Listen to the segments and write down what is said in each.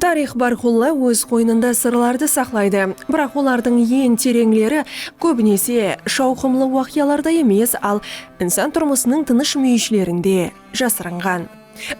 Tariyx bárqulla óz qoynında sırlardı saqlaydı, biraq olardıń en tereńleri kóbinese shawqımlı waqıyalarda emes, al insan turmısınıń tınısh múyishlerinde jasırınǵan.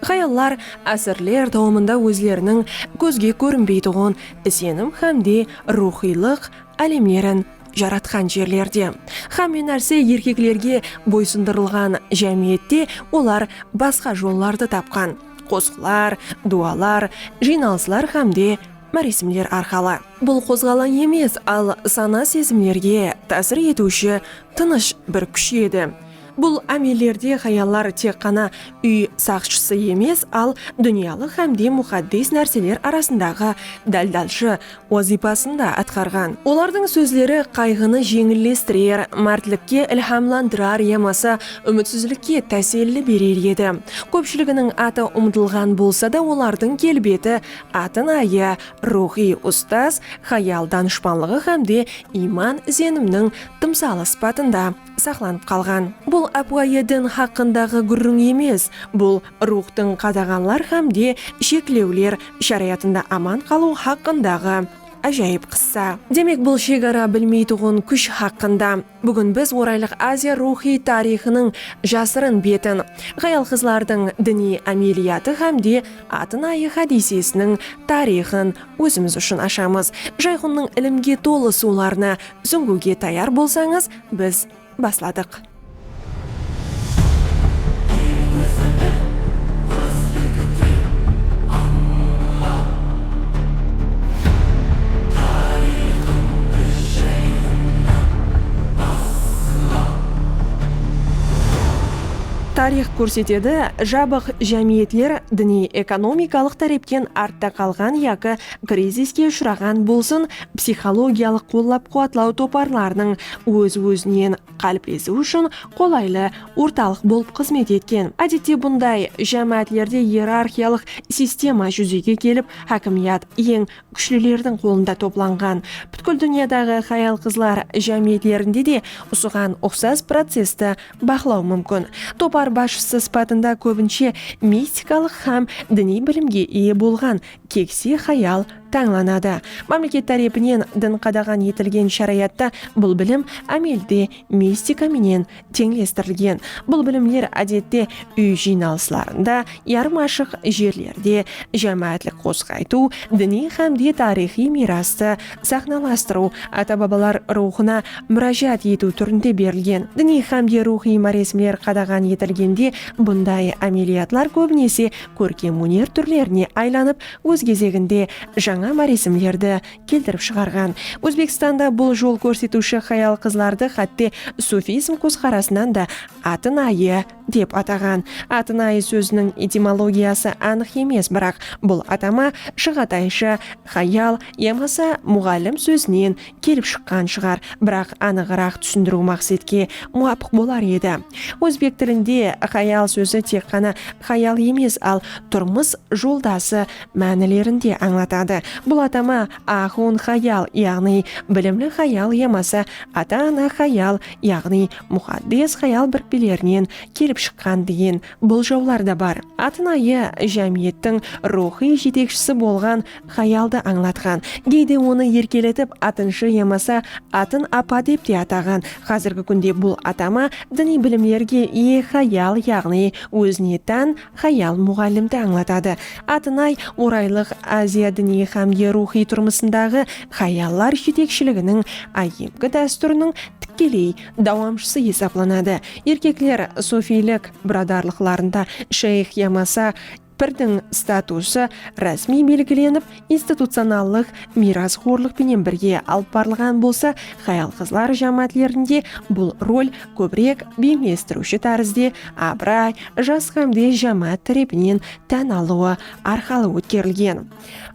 Xayallar ásirler dawamında ózleriniń kózge kórinbeytuǵın isenim hám de ruwxıylıq álemlerin jaratqan jerlerde, hámme nárse erkeklerge boysındırılǵan jámiyette olar basqa jollardı tapqan. qosıqlar, duwalar, jıynalıslar hám de máresimler arqalı. Bul qozǵalań emes, al sana-sezimlerge tásir etiwshi tınısh bir kúsh edi. Bul ámellerde hayallar tek ǵana úy saqshısı emes, al dúnyalıq hám de muxaddes nárseler arasındaǵı dáldalshı, wazıypasın da atqarǵan. Olardıń sózleri qayǵını jeńillestirer, mártlikke ilhamlandırar yamasa úmitsizlikke táselli berer edi. Kópshiliginiń atı umtılǵan bolsa da olardıń kelbeti, atın-ayı, ruwxıy ustaz, hayal-danıshpanlıǵı hám de iyman-izenimniń tımsalı sıpatında. saqlanıp qalǵan. Bul ápiwayı din haqqındaǵı gúrriń emes, bul ruwxtıń qadaǵanlar hám de sheklewler sharayatında aman qalıw haqqındaǵı ájayıp qıssa. Demek, bul shegara bilmeytuǵın kúsh haqqında. Búgin biz Oraylıq Aziya ruwxıy tariyxınıń jasırın betin, hayal-qızlardıń diniy ámeliyatı hám de Atın-ayı hádiysesiniń tariyxın ózimiz ushın ashamız. Jayxunnıń ilimge tolı suwlarına súńgiwge tayar bolsańız, Biz basladıq. Tariyx kórsetedi, jabıq jámiyetler diniy-ekonomikalıq tárepten artta qalǵan yaki kriziske ushıraǵan bolsın, psixologiyalıq qollap-quwatlaw toparlarınıń óz-ózinen qáliplesiwi ushın qolaylı ortalıq bolıp xızmet etken. Ádette bunday jámáátlerde iyerarxiyalıq sistema júzege kelip, hákimiyat eń kúshlilerdiń qolında toplanǵan. Pútkil dúnyadaǵı hayal-qızlar jámiyetlerinde de usıǵan uqsas processti baqlaw múmkin. Topar basshısı sıpatında kóbinshe mistikalıq hám diniy bilimge iye bolǵan kekse hayal tańlanadı. Mámleket tárepinen din qadaǵan etilgen sharayatta bul bilim ámelde mistika menen teńlestirilgen. Bul bilimler ádette úy jıynalıslarında, yarım ashıq jerlerde, jámáátlik qosıq aytıw, diniy hámde tariyxıy miyrastı saxnalastırıw, ata-babalar ruwxına múrájat etiw túrinde berilgen. Diniy hámde ruwxıy máresimler qadaǵan etilgende bunday ámeliyatlar kóbinese kórkem óner túrlerine aylanıp, Óz gezeginde, jańa marizmlerdi keltirip shıǵarǵan. Ózbekstanda bul jol kórsetiwshi hayal-qızlardı xátte sufizm kózqarasınan da Atın ayı dep ataǵan. Atın ayı sóziniń etimologiyası anıq emes, biraq bul atama Shıǵatayshı, hayal yamasa muǵallim sózinen kelip shıqqan shıǵar, biraq anıǵıraq túsindiriw maqsetke muwapıq bolar edi. Ózbek tilinde xayal sózi tek ǵana xayal emes, al turmıs joldası mánilerin de ańlatadı. Bul atama axun xayal, yaǵnıy bilimli xayal yamasa ata-ana xayal, yaǵnıy muxaddes xayal birikpelerinen kelip shıqqan degen boljawlar da bar. Atın ayı jámiyettiń ruwxıy jetekshisi bolǵan Hayaldı ańlatqan, geyde onı erkeletip atınshı yamasa atın apa dep te ataǵan, xázirgi kúnde bul atama diniy bilimlerge iye hayal yaǵnıy ózine tán hayal muǵallimdi ańlatadı. Atınay Oraylıq Aziya diniy xámde ruwxıy turmısındaǵı hayallar jetekshiliginiń áyyemgi dástúriniń tikkeley dawamshısı esaplanadı. Erkekler sufiylik biradarlıqlarında shayx yamasa Pirdiń statusı rásmiy belgilenip, institucionallıq miyrasxorlıq penen birge alıp barılǵan bolsa, hayal-qızlar jámáátlerinde bul rol kóbirek beńlestiriwshi tárizde abıray, jas hámde jámáát tárepinen tán alıwı arqalı ótkerilgen.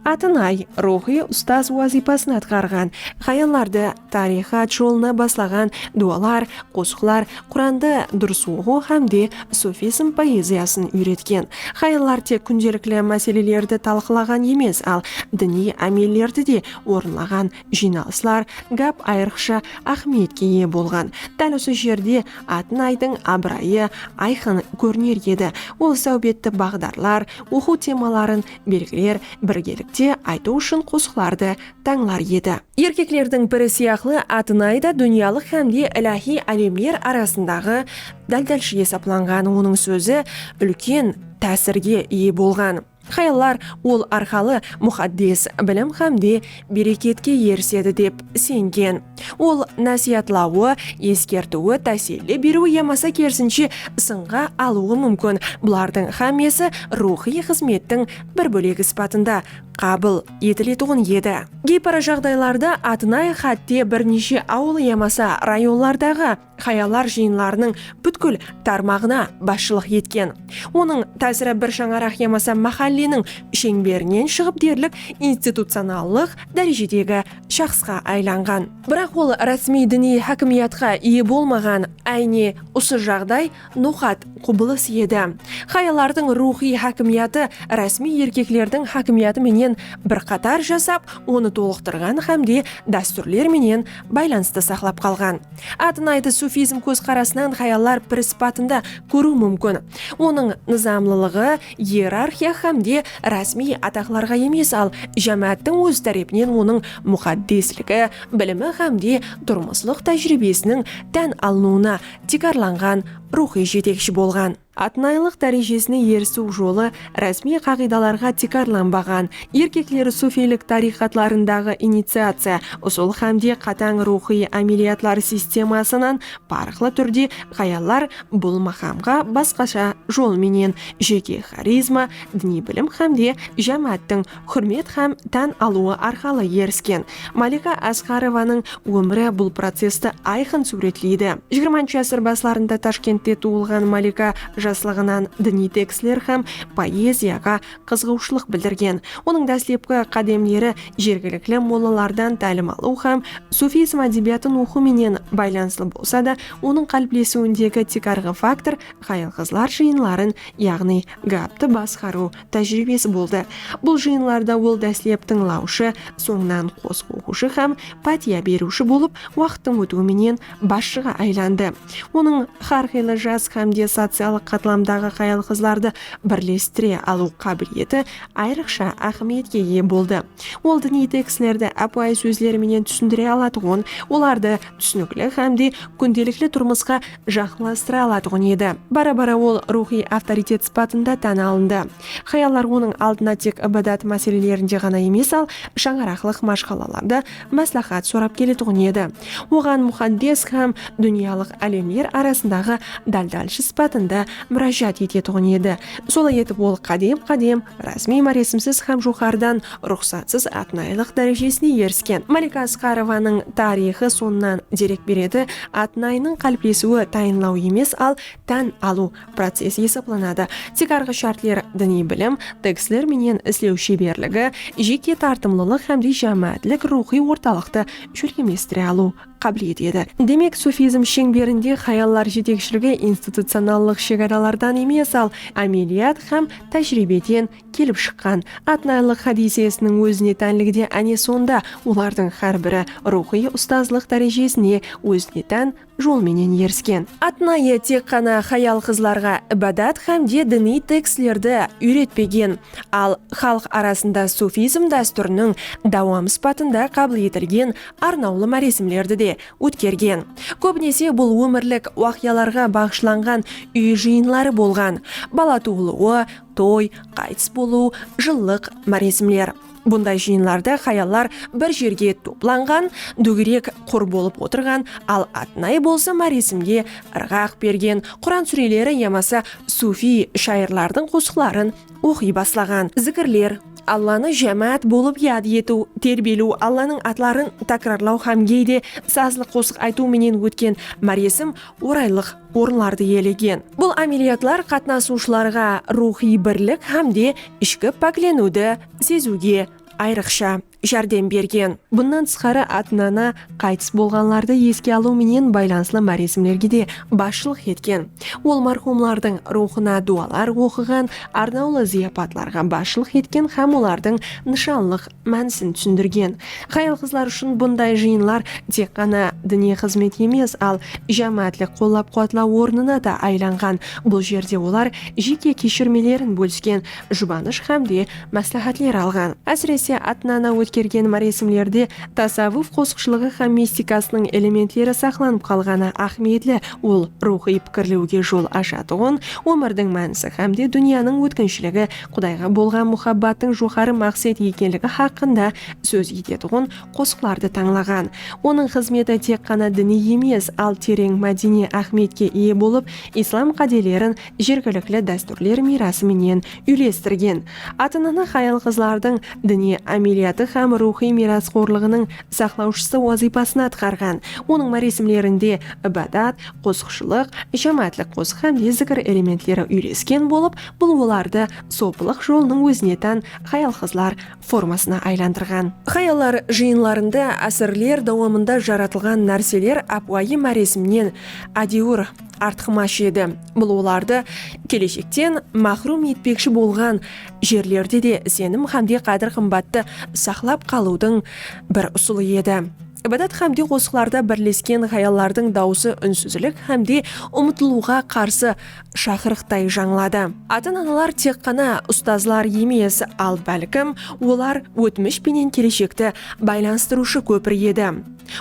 Atınay, ruwxıy ustaz wazıypasın atqarǵan, hayallardı tariyxat jolına baslaǵan duwalar, qosıqlar, Qurandı durıs oqıw hám de sufizm poeziyasın úyretken. Hayallar tek kúndelikli máselelerdi talqılaǵan emes, al diniy ámellerdi de orınlaǵan. Jıynalıslar, gáp ayırıqsha áhmiyetke iye bolǵan. Dál usı jerde Atınaydıń abırayı ayqın kóriner edi. Ol sáwbetti baǵdarlar, oqıw temaların belgiler birgelikte aytıw ushın qosıqlardı tańlar edi. Erkeklerdiń biri sıyaqlı Atınay da dúnyalıq hámde iláhiy álemler arasındaǵı dáltalshı esaplanǵan onıń sózi úlken tásirge iye bolǵan. Hayallar ol arqalı muxaddes bilim hámde bereketke erisedi dep isengen. Ol násiyatlawı, eskertiwi, táselli beriwi yamasa kerisinshe ısınǵa alıwı múmkin, bulardıń xámmesi ruwxıy xızmettiń bir bólegi sıpatında qabıl etiletuǵın edi. Geyparajaǵdaylarda atınay xátte bir neshe awıl yamasa rayonlardaǵı, Hayallar jıyınlarınıń pútkil tarmaǵına basshılıq etken. Onıń tásiri bir shańaraq yamasa máhálleniń sheńberinen shıǵıp derlik institucionallıq dárejedegi shaxsqa aylanǵan. Biraq ol rásmiy diniy hákimiyatqa iye bolmaǵan, áyne usı jaǵday Noqat, qubılıs edi. Hayallardıń ruwxıy hákimiyatı rásmiy erkeklerdiń hákimiyatı menen bir qatar jasap, onı tolıqtırǵan hámde dástúrler menen baylanıstı saqlap qalǵan. Atınaydı sufizm kózqarasınan hayallar piri sıpatında kóriw múmkin. Onıń nızamlılıǵı ierarxiya hámde rásmiy ataqlarǵa emes, al jámááttiń ózi tárepinen onıń muqaddesligi, bilimi hámde turmıslıq tájiriybesiniń tán alınıwına tiykarlanǵan, ruwxıy jetekshi bolǵan. Atnaylıq dárejesine erisiw jolı rásmiy qaǵıydalarǵa tiykarlanbaǵan, erkekleri sufiylik tariqatlarındaǵı iniciaciya usul hámde qatań ruwxıy ámeliyatlar sistemasınan parıqlı túrde ǵayallar bul maqamǵa basqasha jol menen, jeke xarizma, diniy bilim hámde jámááttiń húrmet hám tán alıwı arqalı erisken Malika Asqarovanıń ómiri bul processti ayqın súwretleydi. Jigirmanshı ásir baslarında Tashkentte tuwılǵan Malika jaslıǵınan diniy tekstler hám poeziyaǵa qızıǵıwshılıq bildirgen. Onıń dáslepki qádemleri jergilikli mollalardan tálim alıw hám sufizm ádebiyatın oqıw menen baylanıslı bolsa da, onıń qáliplesiwindegi tiykarǵı faktor hayal-qızlar jıyınların, yaǵnıy gaptı basqarıw tájiriybesi boldı. Bul jıyınlarda ol dáslep tıńlawshı, sońınan qosıq oqıwshı hám pátiya beriwshi bolıp, waqıttıń ótiwi menen basshıǵa aylandı. Onıń hár qıylı jas hám de sociallıq qatlamdaǵı hayal-qızlardı birlestire alıw qábileti ayrıqsha áhmiyetke iye boldı. Ol diniy tekstlerdi ápiwayı sózler menen túsindire alatuǵın, olardı túsinikli hám de kúndelikli turmısqa jaqınlastıra alatuǵın edi. Bara-bara ol ruwxıy avtoritet sıpatında tán alındı. Hayallar onıń aldına tek ibadat máselelerinde ǵana emes, al shańaraqlıq mashqalalarda másláhát sorap keletuǵın edi. Oǵan muxaddes hám dúnyalıq álemler arasındaǵı dáldálshı sıpatında múrájat etetuǵın edi. Solay etip ol qádem-qádem, rásmiy-máresimsiz hám joqarıdan ruxsatsız atnaylıq dárejesine erisken Malika Asqarovanıń tariyxı sonnan derek beredi, atnaynıń qáliplesiwi tayınlaw emes, al tán alıw procesi esaplanadı, tiykarǵı shártler diniy bilim, teksler menen islew sheberligi, jeke tartımlılıq hámde jámáátlik ruwxıy ortalıqtı shólkemlestire alıw qábileti edi. Demek, sufizm sheńberinde hayallar jetekshiligi institucionallıq shegaralardan emes, al ámeliyat hám tájiriybeden kelip shıqqan Atnaylıq hádiysesiniń ózine tánligi de áne sonda, olardıń hár biri ruwxıy ustazlıq dárejesine ózine tán jol menen erisken. Atnayı tek ǵana hayal-qızlarǵa ibadat hám de diniy tekstlerdi úyretpegen, al xalıq arasında sufizm dástúriniń dawamı sıpatında qabıl etilgen arnawlı máresimlerdi de ótkergen. Kóbinese bul ómirlik waqıyalarǵa baǵıshlanǵan úy jıyınları bolǵan, bala tuwılıwı, Toy, qaytıs bolıw, jıllıq, máresimler. Bunday jıyınlarda hayallar bir jerge toplanǵan, dógerek qur bolıp otırǵan, al atınayı bolsa máresimge ırǵaq bergen, Quran súreleri yamasa sufiy shayırlardıń qosıqların oqıy baslaǵan. Zikirler, Allanı jámáát bolıp yad etiw, terbiyelew, Allanıń atların tákirarlaw hám geyde sazlı qosıq aytıw menen ótken máresim oraylıq orınlardı iyelegen. Bul ámeliyatlar qatnasıwshılarǵa ruwxıy birlik hám de ishki pákleniwdi seziwge ayrıqsha járdem bergen. Bunnan tısqarı, ata-ana qaytıs bolǵanlardı eske alıw menen baylanıslı máresimlerge de basshılıq etken. Ol marhumlardıń ruwxına duwalar oqıǵan, arnawlı zıyapatlarǵa basshılıq etken hám olardıń nıshanlıq mánisin túsindirgen. Hayal-qızlar ushın bunday jıyınlar tek ǵana diniy xızmet emes, al, jámáátlik qollap-quwatlaw ornına da aylanǵan. Bul jerde olar jeke keshirmelerin bólisken, jubanısh hám de másláhátler alǵan. Ásirese, ata-ana ótkergen máresimlerde tasawwuf qosıqshılıǵı hám mistikasınıń elementleri saqlanıp qalǵanı áhmiyetli, ol ruwxıy pikirlewge jol ashatuǵın, ómirdiń mánisi hám de dúnyanıń ótkinshiligi Qudayǵa bolǵan muhabbattıń joqarı maqset ekenligi haqqında sóz etetuǵın qosıqlardı tańlaǵan. Onıń xızmeti tek ǵana diniy emes, al tereń mádeniy áhmiyetke iye bolıp, islam qádelerin jergilikli dástúrler miyrası menen úylestirgen. Ata-ana hayal-qızlardıń diniy ámeliyatı hám ruwxıy miyrasxorlıǵınıń saqlawshısı wazıypasın atqarǵan. Onıń máresimlerinde ibadat, qosıqshılıq, jámáátlik qosıq hám de zikir elementleri úylesken bolıp, Bul olardı sopılıq jolınıń ózine tán xayal-qızlar formasına aylandırǵan. Xayallar jıyınlarında ásirler dawamında jaratılǵan nárseler ápiwayı máresimnen ádewir artıqmash edi. Bul olardı keleshekten máxrum etpekshi bolǵan jerlerde de isenim xámde qádir-qımbattı saqlap qalıwdıń bir usılı edi. Ibadat xámde qosıqlarda birlesken xayallardıń dawısı únsizlik xámde umıtılıwǵa qarsı shaqırıqtay jańladı. Ata-analar tek ǵana ustazlar emes, al bálkim, olar ótmish penen keleshekti baylanıstırıwshı kópir edi.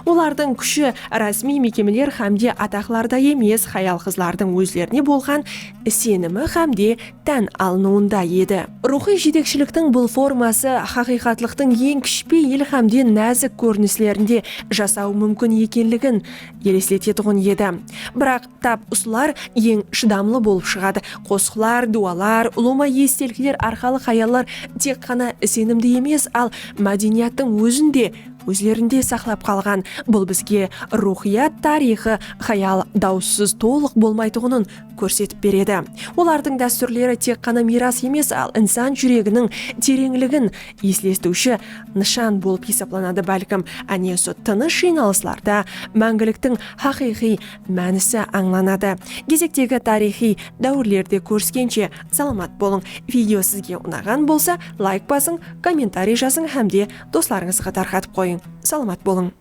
Olardıń kúshi rásmiy mekemeler hámde ataqlarda emes, hayal-qızlardıń ózlerine bolǵan isenimi hámde tán alınıwında edi. Ruwxıy jetekshiliktiń bul forması haqıyqatlıqtıń eń kishpe yil hámde názik kórinislerinde jasawı múmkin ekenligin elesletetuǵın edi. Biraq Tap usılar eń shıdamlı bolıp shıǵadı. Qosıqlar, duwalar, ulıwma estelikler arqalı hayallar tek ǵana isenimdi emes, al mádeniyattıń ózin de ózlerinde saqlap qalǵan. Bul bizge ruwxıyat tariyxı hayal dawıssız tolıq bolmaytuǵının kórsetip beredi. Olardıń dástúrleri tek ǵana miyras emes, al insan júreginiń tereńligin eslestiwshi nıshan bolıp esaplanadı, bálkim, áne usı tınısh jıynalıslarda máńgiliktiń haqıyqıy Mánisi ańlanadı. Gezektegi tariyxıy dáwirlerde kóriskenshe salamat bolıń. Video sizge unaǵan bolsa layk basıń, kommentariy jazıń hámde doslarıńızǵa tarqatıp qoyıń. Salamat bolıń.